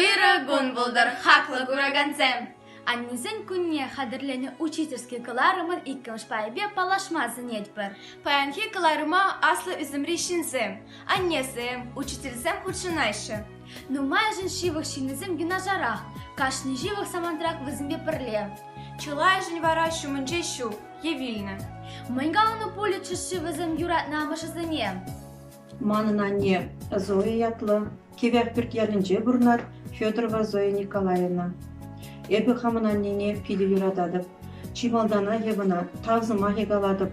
Ырӑ кун пултӑр, хаклӑ куракансем! Аннесен кунне хатӗрленӗ учительски кӑларӑмӑн иккӗмӗш пайӗпе паллашма сӗнетпӗр. Паянхи кӑларӑма аслӑ ӳсӗмри ҫынсем, аннесем, учительсем хутшӑнаҫҫӗ. Нумайӑшӗн ҫывӑх ҫыннисем юнашарах, кашни ҫывӑх самантрах вӗсемпе пӗрле. Чылайӑшӗн вара ҫумӗнче ҫук е вилнӗ. Мӗн каланӑ пулӗччӗ-ши вӗсем юратнӑ амӑшӗсене? Манӑн анне Зоя ятлӑ Кивӗ Ахпӳрт ялӗнче пурӑнать Федорова Зоя Николаевна. Эпӗ хамӑн аннене питӗ юрататӑп. Чи малтанах эп ӑна тав сӑмахӗ калатӑп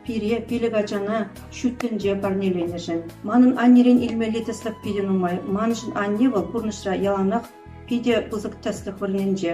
пире пилӗк ачана ҫут тӗнче парнеленӗшӗн. Манӑн аннерен илмелли тӗслӗх питӗ нумай. Маншӑн анне вӑл пурнӑҫра яланах питӗ пысӑк тӗслӗх вырӑнӗнче.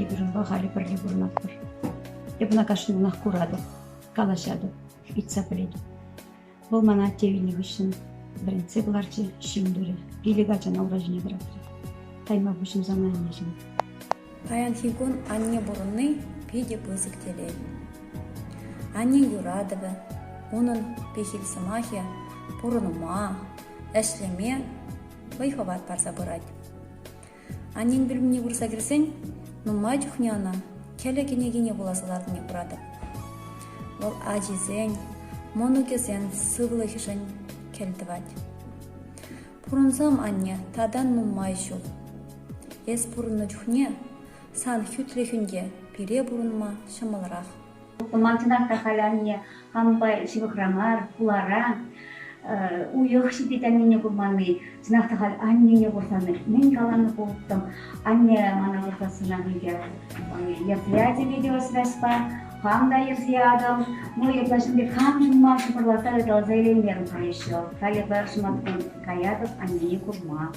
Ӳкерӗнпе халӗ пӗрле пурӑнатпӑр. Эп ӑна кашниннех куратӑп, калаҫатӑп, ыйтса пӗлетӗп. Вӑл мана атте вилнӗ хыҫҫӑн вӗрентсе кӑларчӗ, ҫын турӗ, пилӗк ачана ура ҫине пӑрахрӗ. Тайма пуҫӑнсан анне ҫын. Паянхи кун анне пурӑнни питӗ пысӑк телей. Аннен юратӑвӗ, унӑн пехил сӑмахӗ пурӑнма, ӗҫлеме вӑй-хӑват парса пырать. Аннен пӳлӗмне пырса кӗрсен нумай чухне ӑна кӗлӗ кӗнекине вуласа лартни куратӑп. Вӑл ачисен, мӑнукӗсен сывлӑхӗшӗн кӗлтӑвать. Пурӑнсам, анне, татан нумай ҫул. Эс пурӑннӑ чухне сан хӳтлӗхӳн те пире пурӑнма ҫӑмӑлрах. Хумантинах та халӗ анне хампа ҫывӑхра мар, хулара. Уйӑх ҫитет аннене курманни. Чӑнах та халь аннене курсан мӗн каланӑ пулӑттӑм. Анне мана выртассанах икӗ мероприяти видеосвязьпа хам та йӗрсе ятӑм. Ну, ытла ҫын пек хам ҫунман шӑпӑрлатса ыталаса илеймерӗм халь еще. Халӗ пӗр ҫуматтан каятӑп аннене курма.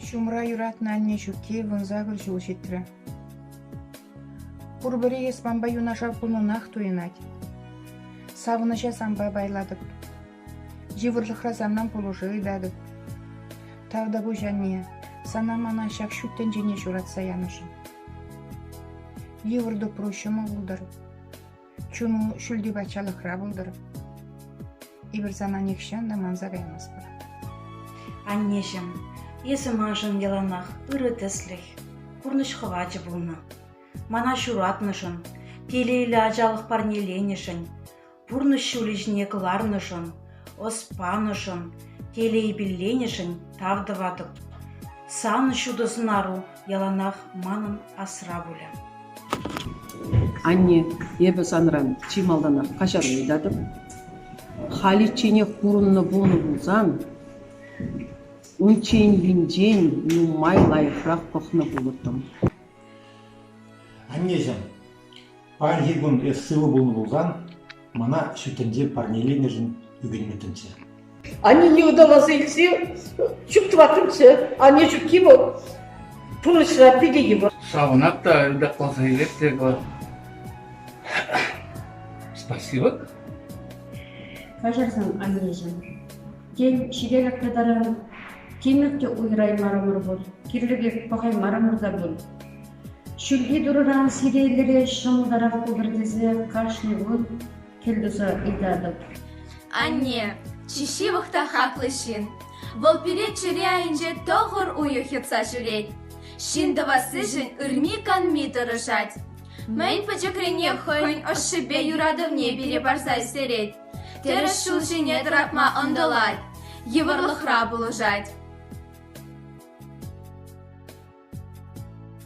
Ҫумра юратнӑ анне ҫукки вунсакӑр ҫул ҫитрӗ. Пурпӗри эспанпа юнашар пулнӑнах туйӑнать. Савӑнӑҫа санпа пайлатӑп. Йывӑрлӑхра санран пулӑшу ыйтатӑп. Тавтапуҫ, анне, сана мана ҫак ҫут тӗнчене ҫуратса янӑшӑн. Йывӑр тупру ҫӑмӑл пултӑр. Чун ҫӳлти патшалӑхра пултӑр. Эпир сана нихҫан та манса каймастпӑр. Аннеҫӗм, эсӗ маншӑн яланах ырӑ тӗслӗх, пурнӑҫ хӑвачӗ пулнӑ. Мана ҫуратнӑшӑн, телейлӗ ачалӑх парнеленӗшӗн, пурнӑҫ ҫулӗ ҫине кӑларнӑшӑн, ӑс панӑшӑн, телей пилленӗшӗн тав тӑватӑп. Сан ҫутӑ сӑнару Яланах манӑн асра пулӗ. Анне, эпӗ санран чи малтанах каҫару ыйтатӑп. Халичченех пурӑннӑ пулнӑ пулсан, унчченхинчен нумай лайӑхрах пӑхнӑ пулӑттӑм. Аннеҫӗм, Паянхи кун эс сывӑ пулнӑ пулсан, мана ҫут тӗнче парнеленӗшӗн ӳкӗнмӗттӗмччӗ. Аннене ыталаса илсе чуптӑваттӑмччӗ. Анне ҫукки вӑл пурнӑҫра питӗ йывӑр. Савӑнат та ытакласа илет те спасибо. Каҫарсан, аннешӗн. Тен, ҫителӗклӗ таран, тимӗр те уйӑраймарӑмӑр пуль, кирлӗ пек пӑхаймарӑмӑр та пуль. Ҫӳлти турӑран сиреньлӗре ҫӑмӑлтарах пултӑр тесе кашни кун кӗлтуса ыйтатӑп. Анне, Ҫиҫи вӑхта хаклӑ ҫын. Вӑл пире чӗре айӗнче тӑхӑр уйӑх йӑтса ҫӳрет. Ҫын тӑвассишӗн ырми-канми тӑрӑшать. Мӗн пӗчӗкрине хӑйӗн ӑшшипе юратӑвне пире парса ӳстерет. Тӗрӗс ҫул ҫине тӑратма ӑнтӑлать, йывӑрлӑхра пулӑшать.